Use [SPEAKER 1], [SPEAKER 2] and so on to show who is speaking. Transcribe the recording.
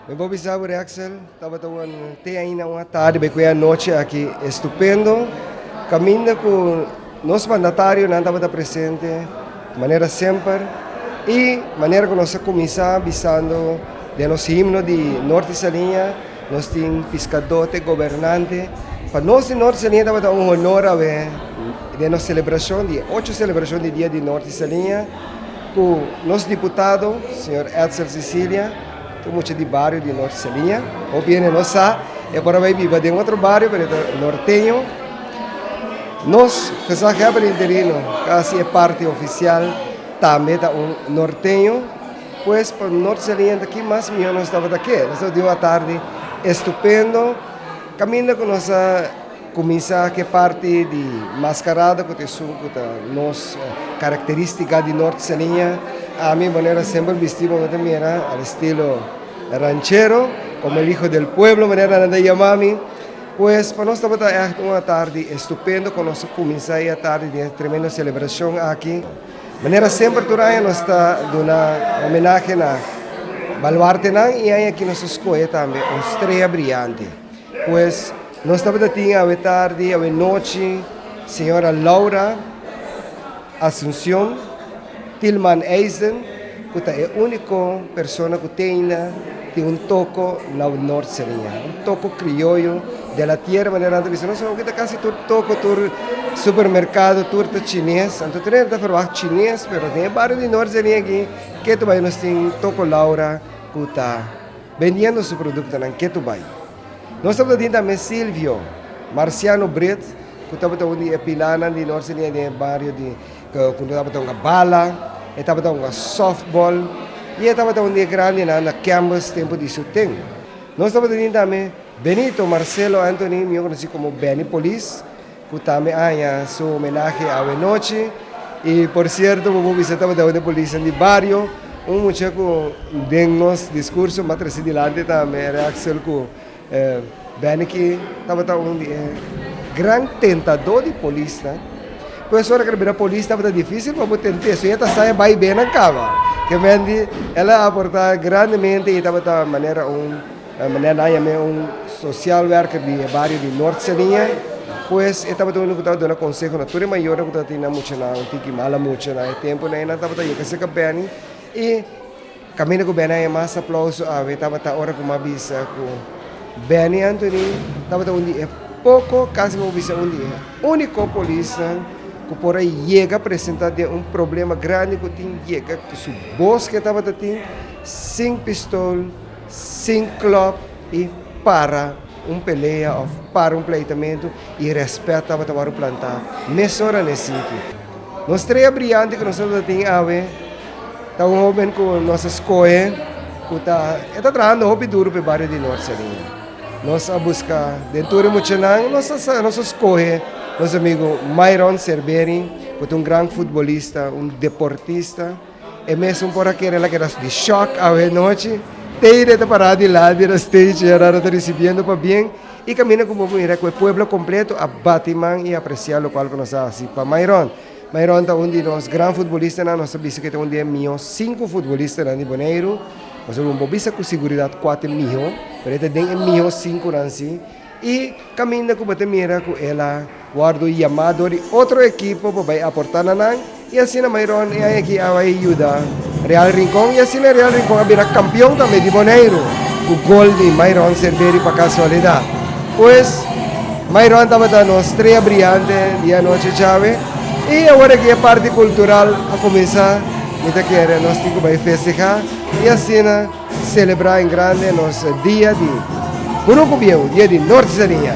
[SPEAKER 1] Mi bo bisa bo Rexel tabata un te aina un atardi be kue anochi aki estupendo kaminda ku nos mandatarionan tabata presente manera semper i manera ku nos a kuminsá bisando den nos himno di Norte di Saliña nos tin piskadote gobernante pa nos di Norte di Saliña tabata un honor awe den nos selebrashon di e ocho selebrashon di dia di Norte di Saliña ku nos diputado señor Etzel Cecilia. Tin mucha di bario di Norte Saliña, hopi hende no sa, e por a bai biba den otro bario pero e ta norteño. Nos Gezaghè Hèber di Interino, kasi e parti ofisial, tambe ta un norteño. Pues pa Norte Saliña ta ki mas mihó nos tabata ke. Nos tabata di un atardi estupendo kaminda ku nos a. Kuminsá ku e parti di maskarada ku ta esun ku ta nos karakterístika di Nort Saliña. Ami manera semper bistí bo ta mira al estilo ranchero, komo el hijo del pueblo manera nan ta yama mi. Pues pa nos tabata ègt un atardi estupendo ku nos a kuminsá e atardi den e tremendo selebrashon aki. Manera semper tur aña nos ta duna homenahe na baluartenan i aña aki nos a skohe tambe un strea briante. Pues nos tabata tin awe tardi, awe nochi, señora Laura Asuncion, Tilman Eisen, cu ta e unico persona cu teinda tin un toco na awe Nort Serenia, un toco crioyo de la tierra manera nan ta bisa nos, awe cu ta casi tur toco, tur supermercado, tur ta chines, anto tur hende ta verwacht chines, pero den e bario di Nort Serenia aki, ketu bay nos tin toco Laura cu ta. Bendiendo su produktonan ketu bai. Nos tabata di tambe Silvio, Marciano Brit, ku tabata un di e pilánan di Norte Nia den e bario di ku no tabata hunga bala, e tabata hunga sòftbòl i e tabata un di e grandenan na kèmbes tempu di su ten. Nos tabata di tambe Benito Marcelo Anthony, mi a konosí komo Beni Polis, Cu ta mi aña su homenahe awe nochi. Y por cierto bobo bisa tabata un di polisnan di bario. Un mucha cu den nos discurso mi a traci dilanti tambe era Axel cu Benniky tabata un di e gran tentador di polisnan. Cu es ora cu el a bira polis tabata dificil pa bo tente so e ta sa e bay benan caba. Kementi el a aporta grandemente y tabata manera un Mané nan yam'é un sosial werker di e bario di Nort Senia, pues e tabata unu ku tabata duna konseho na tur e mayornan ku tabata tin nan muchanan un tiki mala mucha. Na e tempunan nan tabata yega serka Benny i kaminda ku Benny a yama mas aplauso awe tabata ora ku mi a bisa ku Benny Anthony tabata un di e poko, kasi mi por bisa un di e úniko polisnan ku por a yega presentá den un problema grandi ku tin yega ku su bos ku e tabata tin sin pistol. Sin klòk i para un pelea òf para un pleitamentu i rèspèt tabata wòrdu plantá mesora na e sitio. Un strella briante ku nosotres ta tin awe ta un hóben ku nos a skohe ku ta e ta trahando hopi duru pa e bario di Norte Salinas. Nos a buska den tur e muchanan, nos a sa nos a skohe nos amigu Myron Serberin ku ta un gran futbolista, un deportista. E mes un por a kere la keda di shock awe nochi, Teide a ta pará di lado di nan stage e arar a ta risibiendo pa bien y camina cu bo a mira cu e pueblo completo a bati man y apreciá locual cu nos a haci pa Myron. Myron ta un di nos gran futbolistanan, nos ta bisa cu e ta un di e miho cinco futbolistanan di Boneiru, nos a rumbo bisa cu siguridad cuate miho, pero e ta den e miho cinconan si. I kaminda ku bo ta mira ku el a wòrdu yamá dor di otro ekipo pa bai aportá na nan, i asina mai rònt e aña aki a bai yuda Real Rincon, i asina Real Rincon a bira kampion tambe di Boneiru ku gol di mai rònt Serveri pa Kasualidat. Pues, mai rònt tabata nos strea briante di anochi chawe, i awor aki e parti kultural a kuminsá, mi ta kere nos tin ku bai festehá, i asina. Selebrá en grande nos dia di Buruku Bieu, dia di Norte Sania.